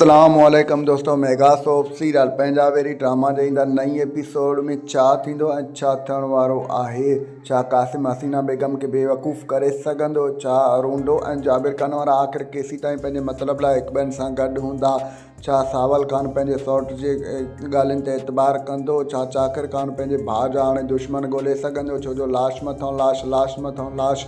اسلام عليڪم دوستو ميگا سوپ سيريل پنجاويري ڊراما جي ايندڙ نئين ايپيسوڊ ۾ ڇا ٿيندو ۽ ڇا ٿيڻ وارو آهي ڇا قاسم حسينا بيگم کي بيوقوف ڪري سگهندو ڇا ارونڊو ۽ جابر خان وارا آخر ڪيسيتائين پنهنجي مطلب لاء هڪ ٻين سان گڏ هوندا ڇا ساول خان پنهنجي سئوٽ جي ڳالهين تي اعتبار ڪندو ڇا چاڪر خان پنهنجي ڀاء جا هاڻي دشمن ڳولهي سگهندو ڇو جو لاش مٿان لاش لاش مٿان لاش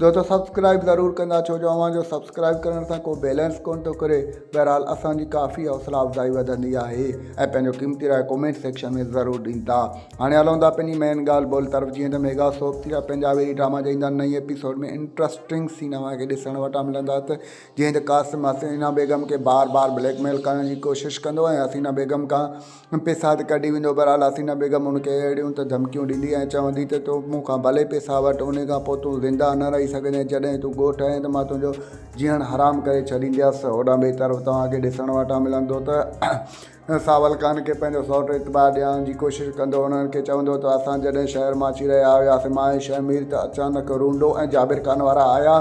دوستو سبسڪرائب ضرور ڪندا ڇو جو اوهان جو سبسڪرائب ڪرڻ سان ڪو بيلنس ڪونه ٿو ڪري بهرحال اسان جي ڪافي حوصلا افزائي وڌندي آهي ۽ پنهنجو قيمتي راء ڪومينٽ سيڪشن ۾ ضرور ڏيندا هاڻي هلون ٿا پنهنجي مين ڳالهه ٻولهه طرف جيئن ته ميگا سوپ ٿي ويا پنهنجا ويري ڊراما جا ايندا نئين ايپيسوڊ ۾ انٽرسٽنگ سين اوهان کي ڏسڻ وٽان ملندا ته جيئن ته قاسم حسينا بيگم کي بار بار بليڪ ميل ڪرڻ جي ڪوشش ڪندو ۽ حسينا بيگم کان پيساد ڪڍي ويندو. بھرحال حسينه بيگم ھن کي اھڙيون ته ڌمڪيون ڏيندي ۽ چوندي ته تون مون کان ڀلي پيسا وٺ انھي کان پوء تون زنده نه رھي سگھندين جڏھن تون ڳوٺ آئين ته مان تنھنجو جيئڻ حرام ڪري ڇڏينديس. ھوڏانھن ٻئي طرف توھان کي ڏسڻ واٽان ملندو ته ساول خان کي پنھنجو سئوٽ اعتبار ڏيارڻ جي ڪوشش ڪندو انھن کي چوندو ته اسان جڏھن شھر مان اچي رھيا ھياسين مان ۽ شھمير ته اچانڪ رونڊو ۽ جابر خان وارا آيا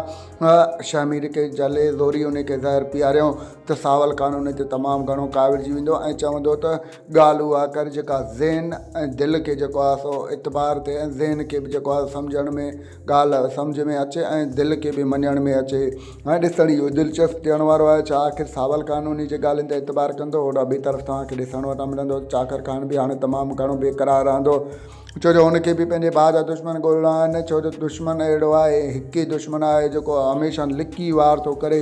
۽ شھمير کي جھلي زوري انھي کي زھر پياريائون. ته ساول قانون تي تمام گهڻو ڪاوڙجي ويندو ۽ چوندو ته ڳالهه اها ڪر جيڪا ذهن ۽ دل کي جيڪو آهي سو اعتبار ٿئي ۽ ذهن کي به جيڪو آهي سمجهڻ ۾ ڳالهه سمجهه ۾ اچي ۽ دل کي به مڃڻ ۾ اچي هاڻي ڏسڻ اهو دلچسپ ٿيڻ وارو آهي ڇا آخر ساول قانوني جي ڳالهين تي اعتبار ڪندو هوڏانهن ٻي طرف توهان کي ڏسڻ وٽان ملندو ته چاڪر خان به هاڻي تمام گهڻو بيقرار رهندو ڇو جو هن کي به پنهنجي ڀاء جا دشمن ڳولڻا آهن ڇو جو دشمن اهڙو آهي هڪ ئي دشمن آهي جيڪو هميشه لڪي وار ٿو ڪري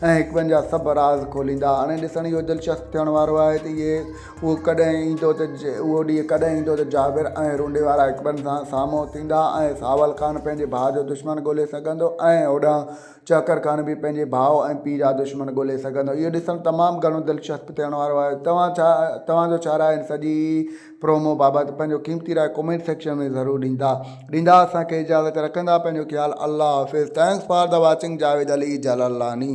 ۽ هڪ ٻن جا سڀ راز کوليندا. هاڻي ڏسڻ اهو دلچسپ ٿيڻ وارو آهي ته اهي اهو ڪڏهن ايندو ته اهو ڏينهن ڪڏهن ايندو ته جابر ۽ رونڊي وارا هڪ ٻن سان سامهون ٿيندا ۽ ساول خان پنهنجي ڀاء جو دشمن ڳولي سگهندو ۽ هوڏانهن چهڪر خان به پنهنجي ڀاء ۽ پيء جا دشمن ڳولي سگهندو. اهو ڏسڻ تمام گهڻو دلچسپ ٿيڻ وارو آهي. توهان ڇا توهان جو ڇا راء آهي ان سڄي پرومو بابت پنهنجو قيمتي راء ڪومينٽ سيڪشن ۾ ضرور ڏيندا ڏيندا اسان کي اجازت رکندا پنهنجو خيال الله حافظ thanks for the watching Javed Ali Jalalani.